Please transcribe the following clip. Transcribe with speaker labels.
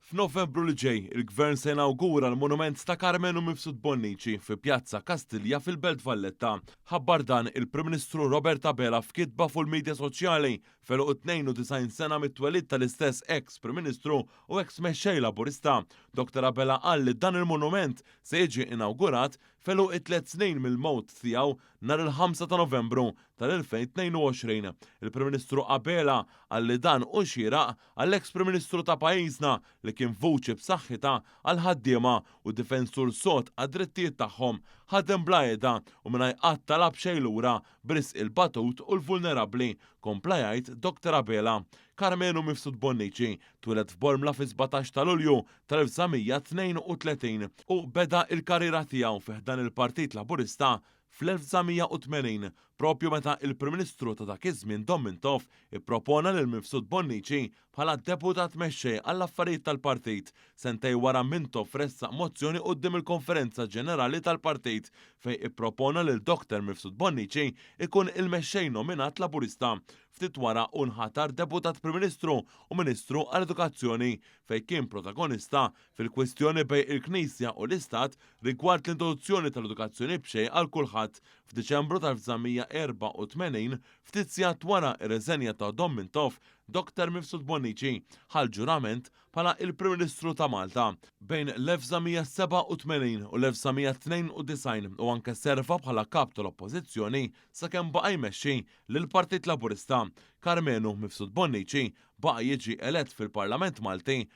Speaker 1: F'Novembru li ġej, il-Gvern se jinawgura l-monument ta' Karmenu Mifsud Bonnici fi Pjazza Kastilja fil-Belt Valletta. Ħabbar dan il-Prim Ministru Robert Abela f'kitba fuq il-midja soċjali f'għeluq it-92 sena mit-twelid tal-istess eks Prim Ministru u eks Mexxej Laburista. Doktor Abela qal li dan il-monument se jiġi inawgurat f'għeluq it-tliet snin mill-mewt tiegħu nhar il-ħamsa ta' Novembru tal-2022. Il-Prim Ministru Abela qal li dan hu xieraq Għall-eks Prim Ministru ta' pajjiżna, li kien vuċi b'saħħitha għall-ħaddiema u difensur sod għad-drittijiet tagħhom, ħadem bla qiegħda u mingħajr qatt talab xejn lura b'risq il-batut u l-vulnerabbli, kompla jgħid Doctor Abela. Karmenu Mifsud Bonnici twieled f'Bormla fis-sbatax ta' Lulju tal-1932 u beda l-karriera tiegħu fi ħdan il-Partit Laburista Fl-1980, proprju meta l-Prim Ministru ta' dak iż-żmien Dom Mintoff ippropona lil Mifsud Bonnici bħala Deputat Mexxej għall-Affarijiet tal-Partit, sentejn wara Mintoff ressaq mozzjoni quddiem il-Konferenza Ġenerali tal-Partit fejn ippropona lil Dr. Mifsud Bonnici jkun il-Mexxej nominat Laburista. Ftit wara hu nħatar Deputat Prim Ministru u Ministru għall-Edukazzjoni fejn kien protagonista fil-kwistjoni bejn il-Knisja u l-Istat rigward l-introduzzjoni tal-edukazzjoni b'xejn għal kulħadd f'Diċembru tal-1984, ftit sigħat wara r-riżenja ta' Dom Mintoff, Dr. Mifsud Bonnici ħa l-ġurament bħala il-Prim Ministru ta' Malta bejn l-1987 u l-1992 u anke serva bħala Kap tal-Oppożizzjoni sakemm baqa' jmexxi lill-Partit Laburista. Karmenu Mifsud Bonnici baqa' jiġi elett fil-Parlament Malti